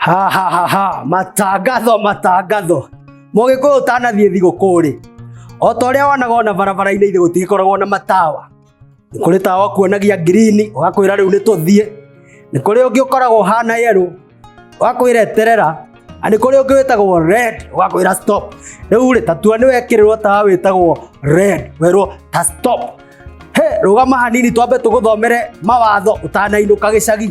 ha ha ha ha matangatho matangatho mũgĩkũyũ ũtanathiĩ thigũkũ-rĩ o ta ũrĩa wonaga ona barabara-inĩ ithe gũtigĩkoragwo na matawa nĩ kũrĩ tawa ũkuonagia ngirini ũgakwĩra rĩu nĩ tũthiĩ nĩ kũrĩ ũngĩ ũkoragwo ũhana yerũ ũgakwĩra eterera na nĩ kũrĩ ũngĩ wĩtagwo red ũgakwĩra stop rĩu rĩ tatua nĩ wekĩrĩrwo tawa wĩtagwo red werwo ta stop he rũgama hanini twambe tũgũthomere mawatho ũtanainũka gĩcagi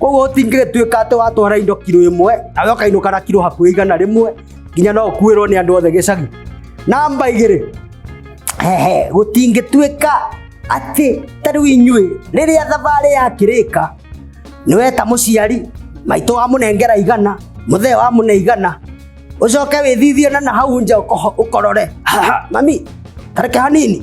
koguo tingĩgĩtuĩka atĩ watwara indo kiro ĩmwe nawe ũkainũka na kiro hakuhĩ igana rĩmwe nginya no ũkuĩrwo nĩ andũ othe gĩcagi namba igĩrĩ hehe gũtingĩtuĩka atĩ ta rĩu inyuĩ rĩrĩa thabarĩ yakĩrĩka nĩweta mũciari maitũ wa mũnengera igana mũthee wa mũne igana ũcoke wĩthithie na na hau nja ũkoho- ũkorore mami tareke hanini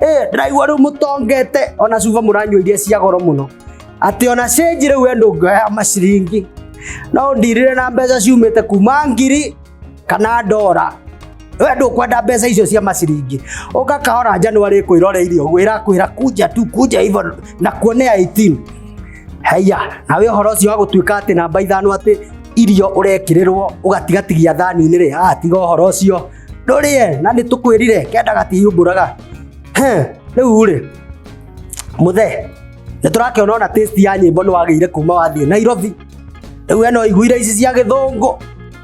Eh, ndĩraigua rĩu mũtongete ona cuba mũranyua iria cia goro mũno atĩ ona cĩnji rĩu we ndũngĩoya maciringi no ndirire na mbeca ciumĩte kuma ngiri kana ndora we ndũkwenda mbeca icio cia maciringi ũka kahora njanwarĩ kwĩroreire ũguo ĩrakwĩra kunja tu kunja hivyo na kuone 18 haiya nawe ũhoro ũcio wa gũtuĩka atĩ namba ithano atĩ irio ũrekĩrĩrwo ũgatigatigia thani-inĩ rĩ ah tiga ũhoro ũcio ndũrĩe na nĩ tũkwĩrire kenda gatihumbũraga Heh, rĩu rĩ mũthe nĩ tũrakĩona ona taste ya nyĩmbo nĩ wagĩire kuma wathiĩ nairobi rĩu eno iguire ici cia gĩthũngũ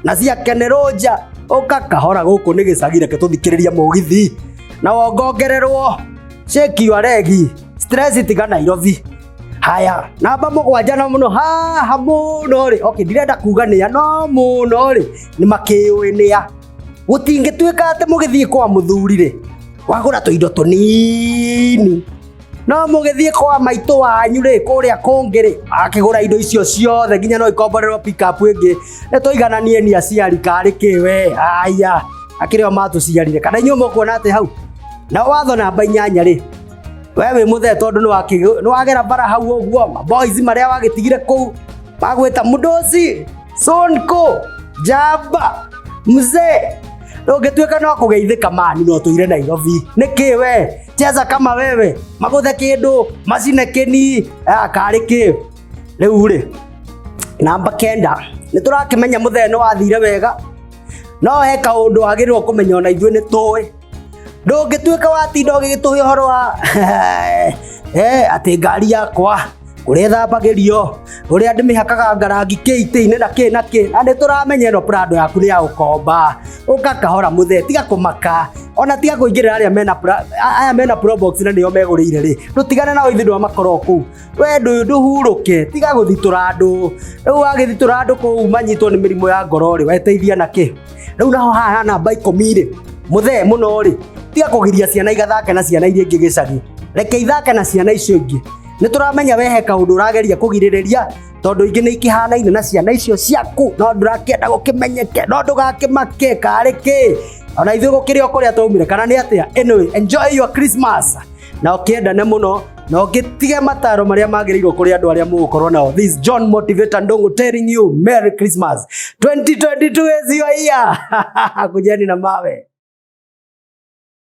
na cia kenerũ nja ũka kahora gũkũ nĩ gĩcagi reke tũthikĩrĩrie mũgithi na wongongererwo sheki wa regi stress tiga nairobi haya namba mũgwanja no mũno haha mũno rĩ okay ndirenda kuga nĩa no mũno rĩ nĩ makĩũĩ nĩa gũtingĩtuĩka atĩ mũgĩthiĩ kwa mũthuri rĩ wagũra tũindo tũnini no mũgĩthiĩ kwa maitũ wanyu rĩ kũrĩa kũngĩ rĩ akĩgũra indo icio ciothe nginya no ikomborerwo pickup ĩngĩ nĩ tũigananie ni aciari karĩ kĩ we haya akĩrĩ o matũciarire kana inyuĩ mũkuona atĩ hau na watho namba inyanya rĩ we wĩ mũthee tondũ nĩ wakĩ- nĩ wagera bara hau ũguo maboys marĩa wagĩtigire kũu magwĩta mũndũci sonko jamba mzee na ũngĩtuĩka no kũgeithĩka mani no tũire nairobi nĩkĩ we cheza kama wewe magũthe kĩndũ macine kĩni ah, karĩ kĩ rĩu rĩ namba kenda nĩ tũrakĩmenya mũthee nĩ wathire wega no he kaũndũ wagĩrĩirwo kũmenya ona ithuĩ nĩ tũĩ ndũngĩtuĩka watinda ũgĩgĩtũhe ũhoro wa eh, atĩ ngari yakwa ũrĩa ĩthambagĩrio ũrĩa ndĩmĩhakaga ngarangi kĩitĩ-inĩ na kĩ na kĩ na nĩ tũramenya ĩno prado yaku nĩ ya ũkomba ũka kahora mũthee tiga kũmaka ona tiga kũingĩrĩra arĩa mena pra- a- aya mena probox na nĩo megũrĩire rĩ tũtigane nao ithuĩ ndwamakoro kũu we ndũ- ndũhurũke tiga gũthitũra andũ rĩu wagĩthitũra andũ kũu manyitwo nĩ mĩrimũ ya ngoro rĩ weteithia na kĩ rĩu naho haha ha namba ikũmi rĩ mũthee mũno rĩ tiga kũgiria ciana igathake na ciana iria ingĩ gĩcagi reke ithake na ciana icio ingĩ nĩ tũramenya wehe kaũndũ ũrageria kũgirĩrĩria tondũ ingĩ nĩ ikĩhanaine na ciana icio ciaku no ndũrakĩenda gũkĩmenyeke no ndũgakĩmake karĩ kĩ ona ithuĩ gũkĩrĩ o kũrĩa twaumire kana nĩ atĩa anyway enjoy your christmas na ũkĩendane mũno na ũgĩtige mataro marĩa magĩrĩirwo kũrĩ andũ arĩa mũgũkorwo nao this john motivator ndongo telling you merry christmas 2022 is your year kujeni na mawe